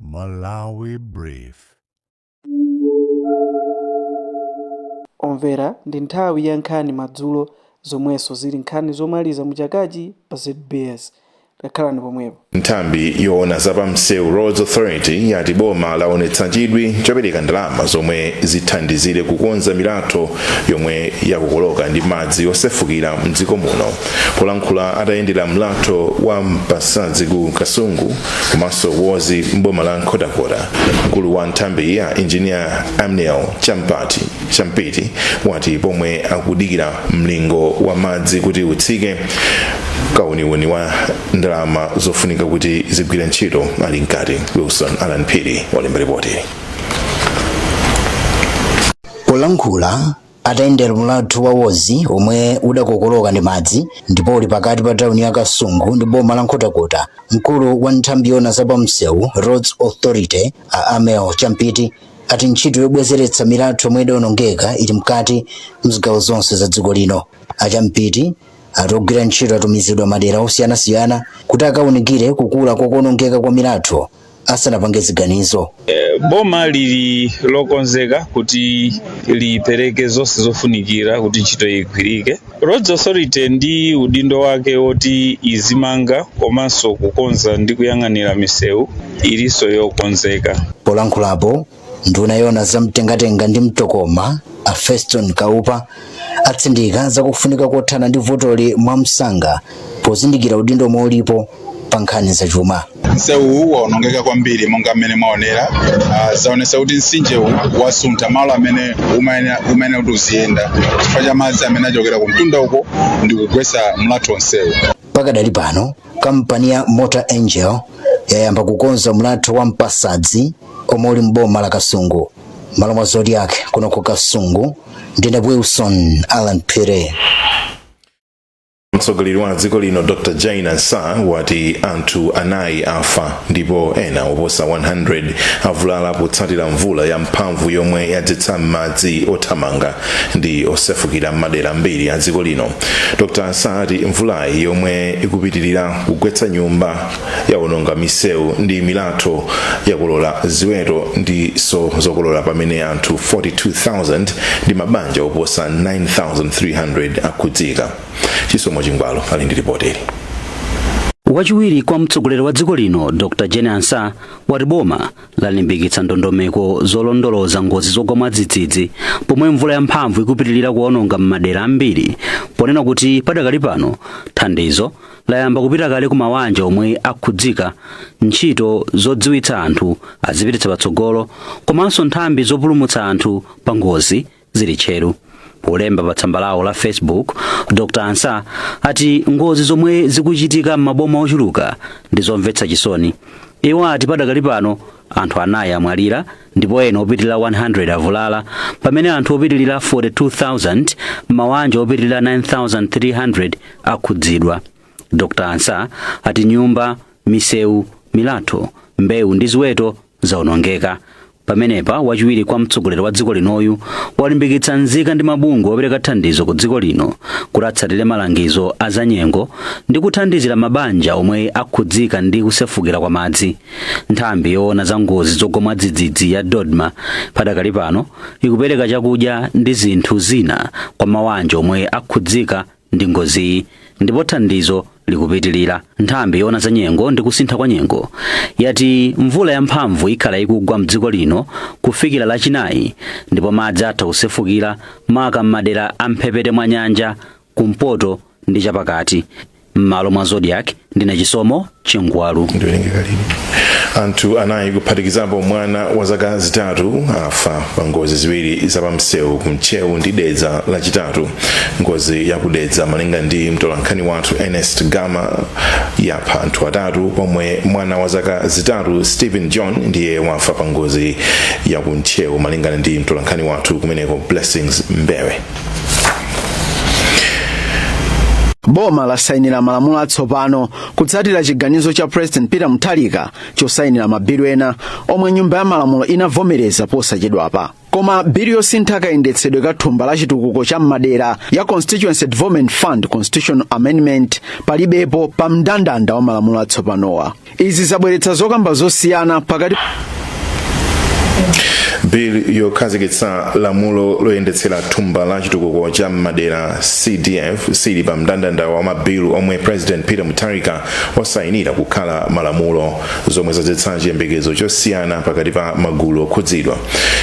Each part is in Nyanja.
Malawi Brief. Omvera ndi nthawi ya nkhani madzulo zomwenso zili nkhani zomaliza mu chakachi pa zbs. Takhalani pomwepo. Nthambi yoona za pa msewu, Roads Authority, yati boma laonetsa chidwi chopereka ndalama zomwe zithandizire kukonza milatho yomwe yakokoloka ndi madzi osefukira mdziko muno. Polankhula atayendera mlatho wa Mpasadzi ku Kasungu, komanso wozi m'boma la nkhotakota mkulu wa nthambiyi a injiniya ammiel champiti wati pomwe akudikira mlingo wa madzi kuti utsike kauniuni wa ndalama zofunika kuti zigwire ntchito ali mkati wilson alan phiri walemba ripoti polankhula Atayendera mlatho wa Wozi omwe udakokoloka ndi madzi ndipo uli pakati pa tauni ya Kasungu ndi boma la Nkhotakota, mkulu wa nthambi yoona za pamsewu, Roads Authority, a Ammiel Champiti ati ntchito yobwezeretsa milatho yomwe idaonongeka ili mkati m'zigawo zonse za dziko lino. A Champiti ati ogwira ntchito atumizidwa m'madera osiyanasiyana kuti akaunikire kukula kwa kuonongeka kwa milatho asanapange ziganizo boma lili lokonzeka kuti lipereke zonse zofunikira kuti ntchito igwirike roads authority ndi udindo wake woti izimanga komanso kukonza ndi kuyang'anira misewu ilinso yokonzeka polankhulapo nduna yoona za mtengatenga ndi mtokoma a feston kaupa atsindika zakufunika kothana ndi vutoli mwamsanga pozindikira udindo womwe ulipo pa nkhani zachuma msewuwu waonongeka kwambiri monga mmene mwaonera uh, zaonesa kuti mtsinjewu wasuntha malo amene umayenera kuti uziyenda chifukwa cha madzi amene achokera kumtunda uko ndi kugwetsa mlatho onsewu Pakadali pano, kampani ya Mota Engil yayamba kukonza mlatho wa Mpasadzi omwe uli m'boma la Kasungu. M'malo mwa Zodiak kuno ku Kasungu ndine Wilson Alan Phiri. mtsogoleri wa dziko lino dr jane ansah wati anthu anayi afa ndipo ena oposa 100 avulala potsatira mvula ya mphamvu yomwe yadzetsa madzi othamanga ndi osefukira m'madera ambiri a dziko lino dr ansah ati mvulayi yomwe ikupitirira kugwetsa nyumba yawononga misewu ndi milatho yakolola ziweto ndinso zokolola pamene anthu 42000 ndi mabanja oposa 9300 akhudzika chisomo chingwalo ali ndi ripoti wachiwiri kwa mtsogoleri wa dziko lino dr jane ansah wati boma lalimbikitsa ndondomeko zolondoloza ngozi zogwa mwadzidzidzi pomwe mvula yamphamvu ikupitirira kuononga m'madera ambiri ponena kuti padakali pano thandizo layamba kupita kale ku mawanja omwe akhudzika ntchito zodziwitsa anthu azipititsa patsogolo komanso nthambi zopulumutsa anthu pa ngozi zili tcheru polemba pa tsamba lawo la facebook dr ansah ati ngozi zomwe zikuchitika m'maboma ochuluka ndi zomvetsa chisoni iwo ati padakali pano anthu anayi amwalira ndipo ena opitirira 100 avulala pamene anthu opitirira 42000 m'mawanja opitirira 9300 akhudzidwa dr ansah ati nyumba misewu milatho mbewu ndi ziweto zaonongeka. Pamenepa, wachiwiri kwa mtsogoleri wa dziko linoyu walimbikitsa nzika ndi mabungwe opereka thandizo ku dziko lino kuti atsatire malangizo a zanyengo ndi kuthandizira mabanja omwe akhudzika ndi kusefukira kwa madzi. Nthambi yoona za ngozi zogwa mwadzidzidzi ya DoDMA padakali pano ikupereka chakudya ndi zinthu zina kwa mawanja omwe akhudzika ndi ngoziyi ndipo thandizo likupitilira nthambi yoona za nyengo ndi kusintha kwa nyengo yati mvula yamphamvu ikhala ikugwa mdziko lino kufikira lachinayi ndipo madzi atha kusefukira maka m'madera a mphepete mwa nyanja kumpoto ndi chapakati m'malo mwa zodiak ndine chisomo chingwalu anthu anayi kuphatikizapo mwana wa zaka zitatu afa pa ngozi ziwiri za pamsewu ku ntcheu ndi dedza lachitatu ngozi ya kudedza malinga ndi mtolankhani wathu ernest gama yapha anthu atatu pomwe mwana wa zaka zitatu stephen john ndiye wafa pa ngozi ya ku ntcheu malingana ndi mtolankhani wathu kumeneko blessings mbewe boma lasayinira malamulo atsopano kutsatira chiganizo cha president peter mutharika chosayinira mabilu ena omwe nyumba ya malamulo inavomereza posachedwapa koma bilu yosintha kayendetsedwe ka thumba la chitukuko cha m'madera ya constituency development fund constitutional amendment palibepo pa mndandanda wa malamulo atsopanowa izi zabweretsa zokamba zosiyana pakati bill yokhazikitsa lamulo loyendetsera thumba la chitukuko cha m'madera cdf sili pa mndandanda wa mabilu omwe president peter mutharika wasayinira kukhala malamulo zomwe zadzetsa chiyembekezo chosiyana pakati pa magulu okhudzidwa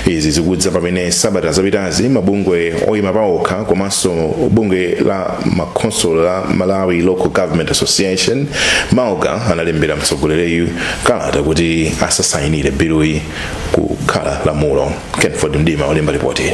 izi zikudza pamene sabata zapitazi mabungwe oyima paokha komanso bungwe la makhonsolo la malawi local government association malga analembera mtsogoleriyu kalata kuti asasayinire biluyi kukhala lamulo kenford mdima olemba lipoti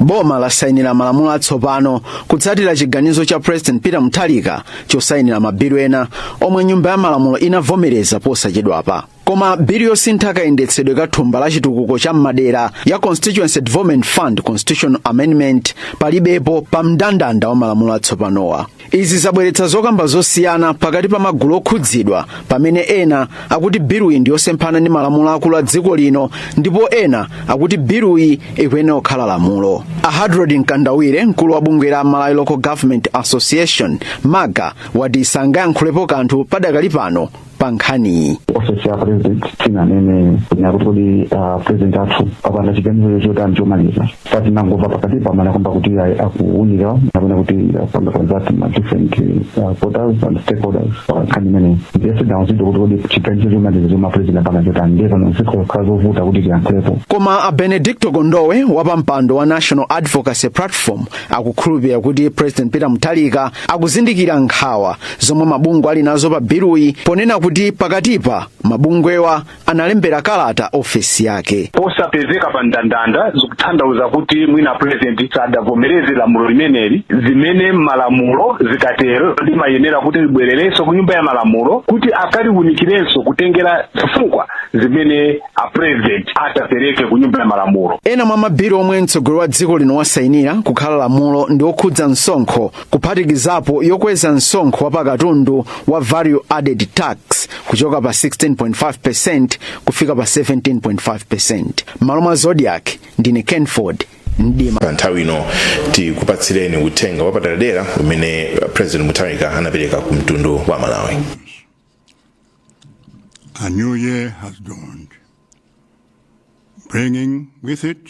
boma lasayinira malamulo atsopano kutsatira chiganizo cha president peter mutharika chosayinira mabilu ena omwe nyumba ya malamulo inavomereza posachedwapa koma bilu yosintha kayendetsedwe ka thumba la chitukuko cha m'madera ya constituency development fund constitutional amendment palibepo pa mndandanda wa malamulo atsopanowa izi zabweretsa zokamba zosiyana pakati pa magulu okhudzidwa pamene ena akuti biluyi ndi yosemphana ndi malamulo akulu a dziko lino ndipo ena akuti biluyi ikuyenera kukhala lamulo a hadrod mkandawire mkulu wa bungwe la malawi local government association malga wati sangayankhulepo kanthu padakali pano pa nkhaniyi ofesi ya president sinanene kunena kuti kodi a president athu apanga chiganizo chotani chomaliza tinangomva pakatipa amanena kwamba kuti ayi akuunika kapena kuti apanga consult ma different ah, quarters and stakeholders pankhani imeneyi ndiye sitidauzidwe kuti kodi chiganizo chomaliza chomwe a president apanga chotani ndiye pano zikukhala zovuta kuti tiyankhulepo koma a benedicto kondowe wa pampando wa national advocacy platform akukhulupirira kuti president peter mutharika akuzindikira nkhawa zomwe mabungwe ali nazo pa biluyi ponena kuti pakatipa mabungwewa analembera kalata ofesi yake posapezeka pa ndandanda zikutanthauza kuti mwina a purezidenti sadavomereze lamulo limeneli zimene malamulo zikatero limayenera kuti libwererenso ku nyumba ya malamulo kuti akaliunikirenso kutengera zifukwa zimene a purezidenti adapereka ku nyumba ya malamulo ena mwa mabilu omwe mtsogoleri wa dziko lino wasainira kukhala lamulo ndi okhudza msonkho kuphatikizapo yokweza msonkho wa pakatundu wa value added tax kuchoka pa 16.5% kufika pa 17.5% m'malo mwa zodiac ndine kenford mdima pa nthawi ino tikupatsireni uthenga wapadera umene president mutharika anapereka ku mtundu wa amalawi A new year has dawned, bringing with it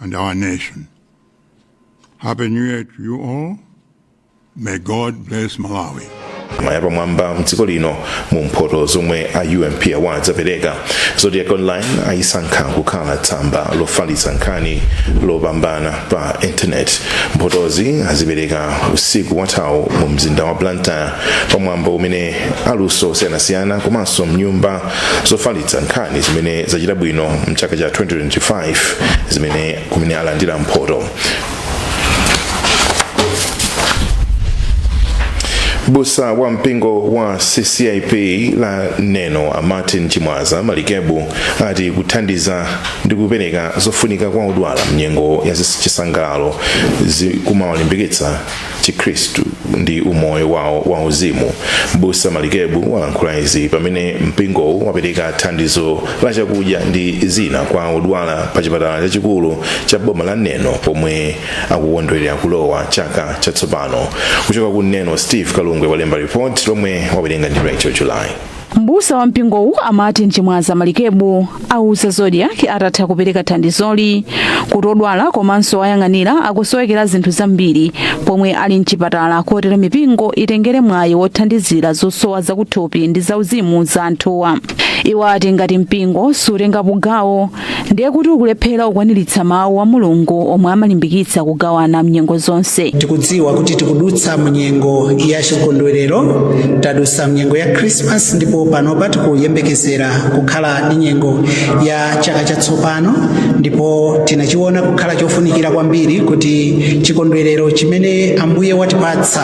and our nation. Happy New Year to you all. May God bless Malawi. mwa yapamwamba mdziko lino mu mphoto zomwe a ump awards apereka zodiac online ayisankha kukhala tsamba lofalitsa nkhani lopambana pa intaneti mphotozi azipereka usiku wathawu mu mzinda wa blantyre pamwambo umene aluso osiyanasiyana komanso nyumba zofalitsa nkhani zimene zachita bwino mchaka cha 2025 zimene kumene alandira mphoto mbusa wa mpingo wa ccap wa neno a martin chimwaza malikebu ati kuthandiza ndi kupereka zofunika kwa odwala mnyengo ya chisangalalo zikumawalimbikitsa chikhristu ndi umoyo wawo wa uzimu mbusa malikebu walankhula izi pamene mpingowu wapereka thandizo la chakudya ndi zina kwa odwala pa chipatala chachikulu cha boma la neno pomwe akukondwerera kulowa chaka chatsopano kuchoka ku neno steve kalungwe walemba report lomwe wawerenga ndi rachel july Mbusa wa mpingowu a Martin Chimwaza Malikebu auza Zodiak atatha kupereka thandizoli kuti odwala komanso owayang'anira akusowekera zinthu zambiri pomwe ali mchipatala kotero mipingo itengere mwayi wothandizira zosowa zakuthupi ndi zauzimu za anthuwa. Iwo ati ngati mpingo sutengapo gawo ndiye kuti ukulephera kukwaniritsa mawu a mulungu omwe amalimbikitsa kugawana mnyengo zonse tikudziwa kuti tikudutsa munyengo ya chikondwerero tadutsa mnyengo ya khrisimasi ndipo panopa tikuyembekezera kukhala ndi nyengo ya chaka chatsopano ndipo tinachiona kukhala chofunikira kwambiri kuti chikondwerero chimene ambuye watipatsa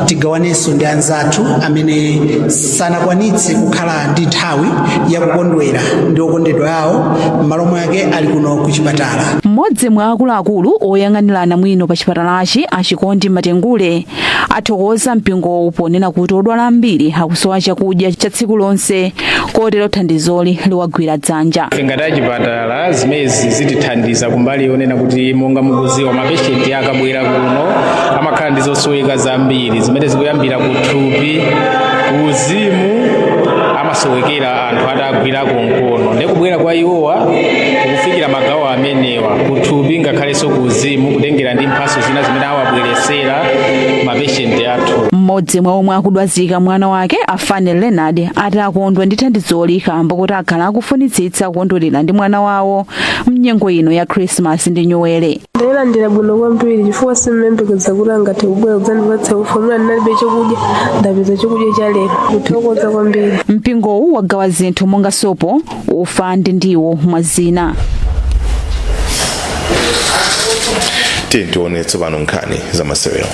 tigawanenso ndi anzathu amene sanakwanitse kukhala ndi nthawi yakukondwera ndi okondedwa awo m'malo mwake ali kuno ku chipatala mmodzi mwa akuluakulu oyang'anira anamwino pa chipatalachi a chikondi matengule athokoza mpingowu ponena kuti odwala ambiri akusowa chakudya cha tsiku lonse kotero thandizoli liwagwira dzanja ngati achipata Ala, zimenezi zitithandiza kumbali yonena kuti monga mukuziwa mapeshenti akabwera kuno amakhala ndi zosoweka zambiri zimene zikuyambira ku thupi uzimu amasowekera anthu owagwirako mkono ndi kubwera kwa iwowa kukufikira magawo amenewa kuthupi ngakhalenso ku uzimu kutengera ndi mphaso zina zimene awabweresera mapeshenti athu mmodzi mwa omwe akudwazika mwana wake a fane leonard ati akondwa ndi thandizoli kamba kuti akhala akufunitsitsa kukondwerera ndi mwana wawo mnyengo ino ya khrisimasi ndi nyuwere ndalilandira bwino kwambiri chifukwa sindimayembekeza kuti angathe kubwera kudzandipatsa ufa muna ndinalibe chokudya ndapeza chokudya cha lero kuthokoza kwambiri mpingowu wagawa zinthu monga sopo ufa ndi ndiwo mwa zina tiye tione tsopano nkhani za masewero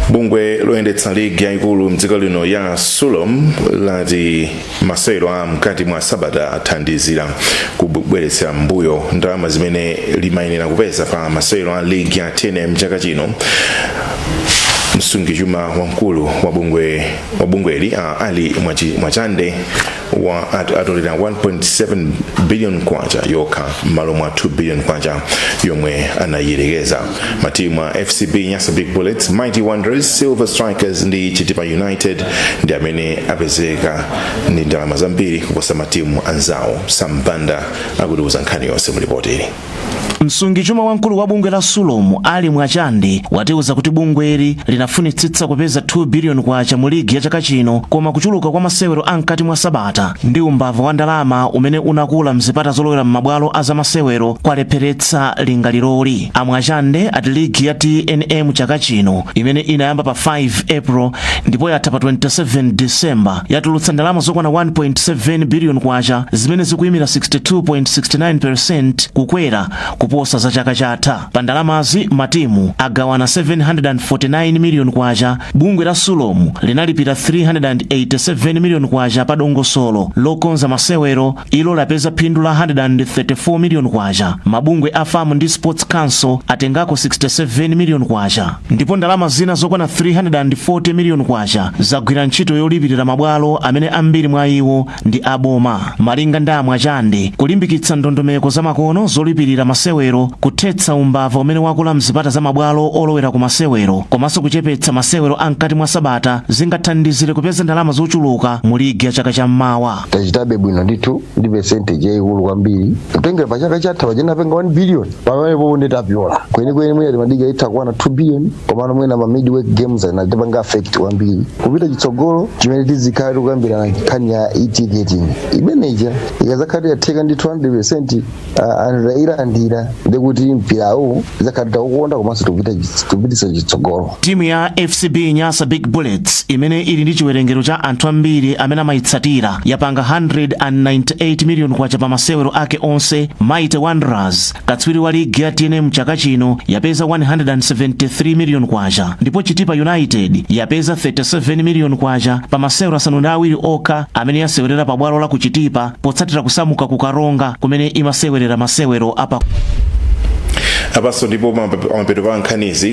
bungwe loyendetsa ligi yayikulu mdziko lino la sulom lati Masewero a mkati mwa sabata athandizira kubweretsera m'mbuyo ndalama zimene limayenera kupeza pa masewero a ligi ya tnm chaka chino msungichuma wamkulu wa bungweli a ali mwachande ati atolera 1.7 billion kwacha yokha m'malo mwa 2 billion kwacha yomwe anayerekeza matimu a fcb nyasa big bullets mighty wanderers silver strikers ndi chitipa united ndi amene apezeka ndi ndalama zambiri kuposa matimu anzawo sambanda akutiuza nkhani yonse mu lipotili msungichuma wamkulu wa bungwe la sulom ali mwachande watiuza kuti bungweli linafunitsitsa kupeza 2 biliyoni kwacha mu ligi ya chaka chino koma kuchuluka kwa masewero a mkati mwa sabata ndi umbava wa ndalama umene unakula mzipata zolowera m'mabwalo a zamasewero kwalepheretsa lingaliroli. A Mwachande ati ligi ya tnm chaka chino imene inayamba pa 5 April ndipo yatha pa 27 December yatulutsa ndalama zokwana 1.7 billion kwacha zimene zikuyimira 62.69% kukwera kuposa za chaka chatha. Pa ndalamazi matimu agawana 749 million kwacha, bungwe la Sulom linalipira 387 million kwacha pa dongosolo lokonza masewero ilo lapeza phindu la 134 miliyoni kwacha mabungwe a fam ndi sports council atengako 67 miliyoni kwacha ndipo ndalama zina zokwana 340 miliyoni kwacha zagwira ntchito yolipirira mabwalo amene ambiri mwa iwo ndi aboma malinga ndi a mwachande kulimbikitsa ndondomeko zamakono zolipirira masewero kuthetsa umbava umene wakula mzipata za mabwalo olowera ku masewero komanso kuchepetsa masewero a mkati mwa sabata zingathandizire kupeza ndalama zochuluka mu ligi ya chaka cha m'mawa tachitabe bwino ndithu ndi percentage yayikulu kwambiri kutengera pa chaka chatha tinapanga 1 billion pamene panopo nde tapyola kwenikweni mwina timadikira itakwana 2 billion komano mwina ma midweek games anatipanga affect kwambiri kupita chitsogolo chimene tizikhala tikukambirana nkhani ya e-ticketing imeneja ikazakhala kuti yatheka ndi 200 anthu tayilandira ndi kuti mpirawu zakhala taukonda komanso tikupititsa chitsogolo timu ya fcb nyasa big bullets imene ili ndi chiwerengero cha anthu ambiri amene amayitsatira yapanga 198 miliyoni kwacha pa masewero ake onse mighty wanderers katswiri wa ligi ya tnm chaka chino yapeza 173 miliyoni kwacha ndipo chitipa united yapeza 37 miliyoni kwacha pa masewero asanu ndi awiri okha amene yasewerera pa bwalo la ku chitipa potsatira kusamuka ku karonga kumene imasewerera masewero apa apanso ndipo mapeto pa nkhanizi